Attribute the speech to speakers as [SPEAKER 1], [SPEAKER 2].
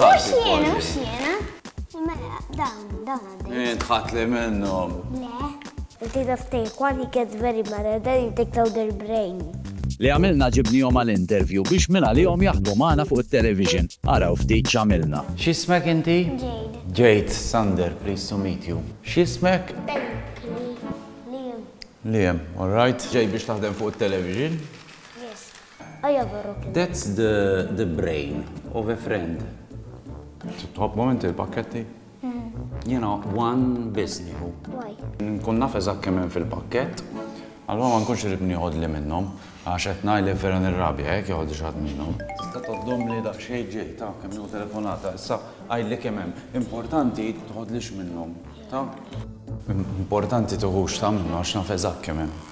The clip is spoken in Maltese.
[SPEAKER 1] Mux jena, mux jena. Mela, dawn, dawn għaddej. Jien tħat li minnom. Le. Inti taf Taiwan, he gets very mad and then he takes out their brain. Li għamilna
[SPEAKER 2] ġibnihom għal interview biex minn għalihom jaħdmu magħna fuq it-television. Araw ftit x'għamilna. X'ismek inti?
[SPEAKER 3] Jade. Jade,
[SPEAKER 1] Sander,
[SPEAKER 3] pleased to meet you. X'ismek?
[SPEAKER 1] Liam. Liam,
[SPEAKER 3] all right. Ġej biex taħdem fuq it-television.
[SPEAKER 1] That's the
[SPEAKER 3] the brain of a friend. Tħobbhom inti l-pakketti? Jiena one biss nieħu. Nkun
[SPEAKER 1] naf eżatt
[SPEAKER 3] kemm hemm fil-pakkett, allura ma nkunx irrid nieħodli minnhom għax qed ngħid li vera nirrabja jekk jeħodli xi ħadd minnhom. Tista' tgħoddhomli daqsxejn ġej, ta, kemm nieħu telefonata. Issa għidli kemm hemm. Importanti tħodlix minnhom, ta? Importanti tiħux, ta, minnhom għax naf eżatt kemm hemm.